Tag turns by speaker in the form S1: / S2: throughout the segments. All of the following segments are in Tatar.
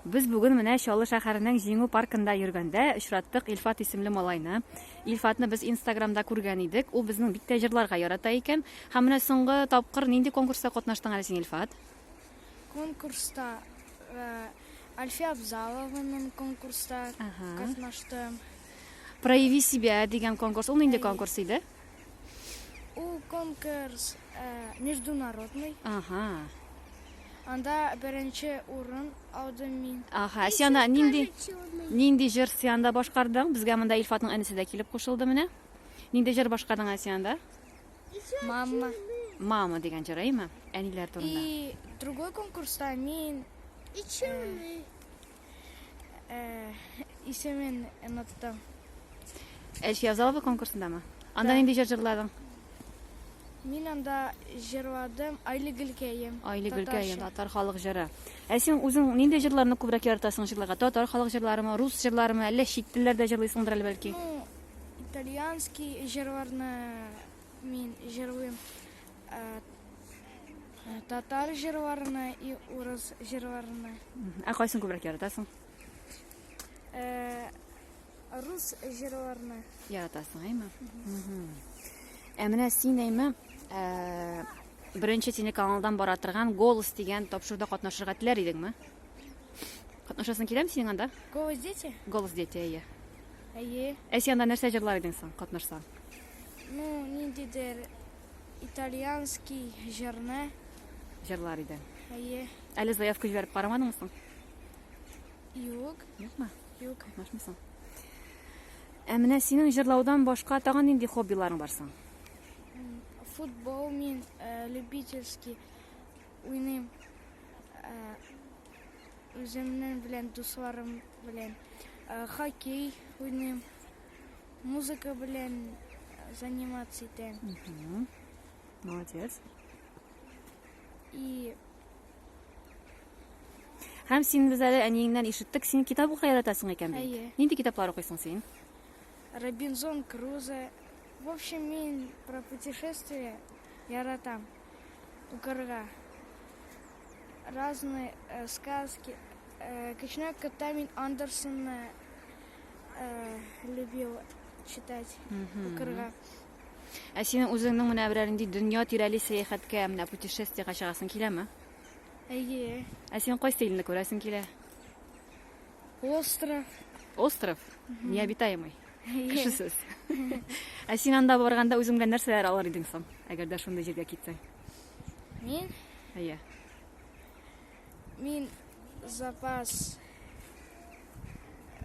S1: Без бүген менә Чаллы шәһәренең Җиңү паркында йөргәндә очраттык Илфат исемле малайны. Илфатны без Инстаграмда күргән идек. Ул безнең бик тә җырларга ярата икән. Һәм менә соңгы тапкыр нинди конкурста катнаштың әле син, Илфат? Конкурста
S2: э, Альфия Абзалованың конкурста Ага. катнаштым. Прояви
S1: себя дигән конкурс. Ул нинди конкурс иде?
S2: Ул конкурс э, международный. Ага.
S1: Анда
S2: беренче урын алдым мин. Ага, Сиана нинди
S1: нинди җыр Сианда башкардың? Безгә монда Илфатның әнисе дә килеп кушылды менә. Нинди җыр башкардың Сианда? Мама.
S2: Мама
S1: дигән җыр, әйме? Әниләр турында. И другой
S2: конкурста мин Ичүле. Э, исемен оныттым.
S1: Эш язаловы конкурсындамы? Анда нинди җыр җырладың?
S2: Мин анда җырладым Айлы гөлкәем. Айлы гөлкәем,
S1: татар халык җыры. Ә син үзең нинди җырларны күбрәк яратасың җырларга? Татар халык җырларымы, рус җырларымы, әллә чит телләрдә җырлыйсыңдыр әле бәлки? Ну,
S2: итальянский җырларны мин җырлыйм. Э, Татар җырларны и урыс җырларны. Ә кайсын күбрәк
S1: яратасың? Э,
S2: рус җырларны. Яратасың, әйме?
S1: Ә менә син әйме, э, беренче телеканалдан бара торган Голос дигән тапшыруда катнашырга теләр идеңме? Катнашасың киләме синең анда? Голос дети?
S2: Голос дети, әйе.
S1: Әйе.
S2: Ә син анда нәрсә
S1: җырлар идең соң катнашсаң? Ну,
S2: ниндидер Итальянский җырны. Җырлар
S1: иде. Әйе. Әле
S2: заявка җибәреп
S1: карамадыңмы соң?
S2: Юк. Юкмы?
S1: Юк. Катнашмый соң. Ә менә синең җырлаудан башка тагын нинди хоббиларың бар соң?
S2: Футбол мин э, любительский уйныйм. Э, Үземнең белән дусларым белән э, хоккей уйныйм. Музыка белән заниматься итәм. Угу.
S1: Молодец.
S2: И
S1: Һәм син без әле әниеңнән ишеттек, син китап укый яратасың икән бит. Әйе. Нинди китаплар укыйсың
S2: син?
S1: Робинзон
S2: Крузо. В общем, мин про путешествия яратам. Укырга. Разные сказки. Кечкенә вакытта мин Андерсонны любил читать, укырга. Ә
S1: синең үзеңнең менә берәр нинди дөнья тирәли сәяхәткә, менә путешествиега чыгасың киләме? Әйе.
S2: Ә син кайсы
S1: илне күрәсең килә? Остров.
S2: Остров?
S1: Необитаемый. Кешесез. Ә син анда барганда үзең белән нәрсәләр алыр идең соң, әгәр дә шундый җиргә китсәң? Мин?
S2: Әйе. Мин запас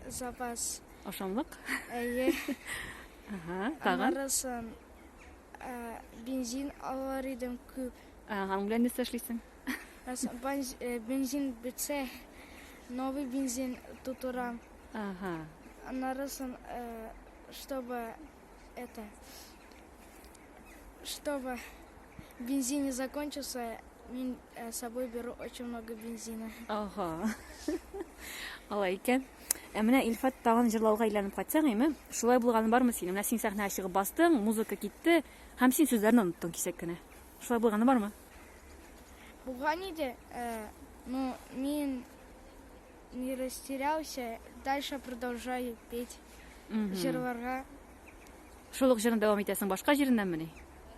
S1: запас ашамлык. Әйе.
S2: Ага,
S1: тагын. Аннарысын
S2: бензин алар идем күп. Ага, белән нәрсә
S1: эшлисең? Бензин
S2: бетсә, новый бензин тутырам. Ага.
S1: Аннарысын
S2: чтобы Это, чтобы бензин не закончился, мин э, с собой беру очень много бензина. Ага.
S1: Алай икән. Ә менә Илфат тагын җырлауга әйләнеп кайтсаң, әйме? Шулай булганы бармы синең? Менә син сәхнәгә чыгып бастың, музыка китте, һәм син сүзләрне оныттың кисәк кенә. Шулай булганы бармы?
S2: Булган иде. Э, ну, мин Не растерялся, дальше продолжаю петь, җырларга.
S1: Шул ук җырны дәвам итәсең башка җиреннәнмени?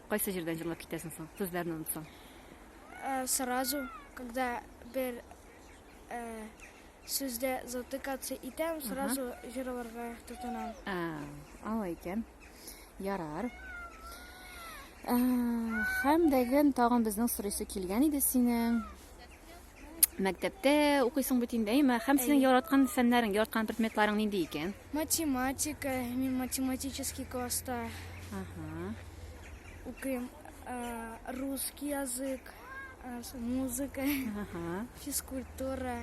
S1: Кайсы җирдән җырлап китәсең соң? Сүзләрне онытсаң. Э,
S2: сразу, когда бер э, сүздә затыкаться итәм, сразу җырларга тотынам. А, алай
S1: икән. Ярар. Э, Һәм дәген тагын безнең сорыйсы килгән иде синең. Мәктәптә укыйсың бит инде, әйме? Һәм синең яраткан фәннәрең, яраткан предметларың нинди икән? Математика,
S2: мин математический класста Ага. укыйм. Ә, Русский язык, ә, с- музыка, Ага. физкультура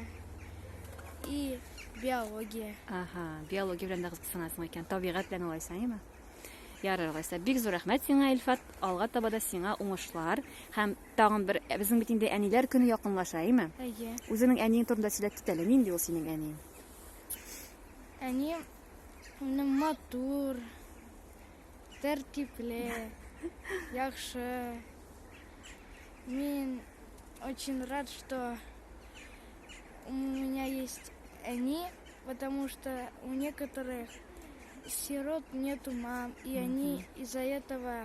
S2: и биология. Ага, биология
S1: белән дә кызыксынасың икән, табигать белән алайса, әйме? Ярар, алайса. Бик зур рәхмәт сиңа, Илфат. Алга таба да сиңа уңышлар һәм Тагын бер, ә безнең бит инде әниләр көне якынлаша, әйме? Әйе. Үзеңнең әниең
S2: турында
S1: сөйләп кит әле, нинди ул синең әниең? Әнием
S2: минем матур, тәртипле, яхшы. Мин очень рад, что у меня есть они, потому что у некоторых сирот нету мам, и они из-за этого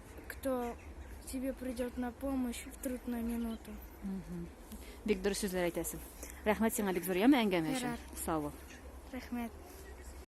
S2: Кто тебе придет на помощь в трудную минуту.
S1: Бик дөрес сүзләр әйтәсең. Рәхмәт сиңа
S2: бик зур
S1: яме әңгәмә өчен. Ярар. Сау бул. Рәхмәт.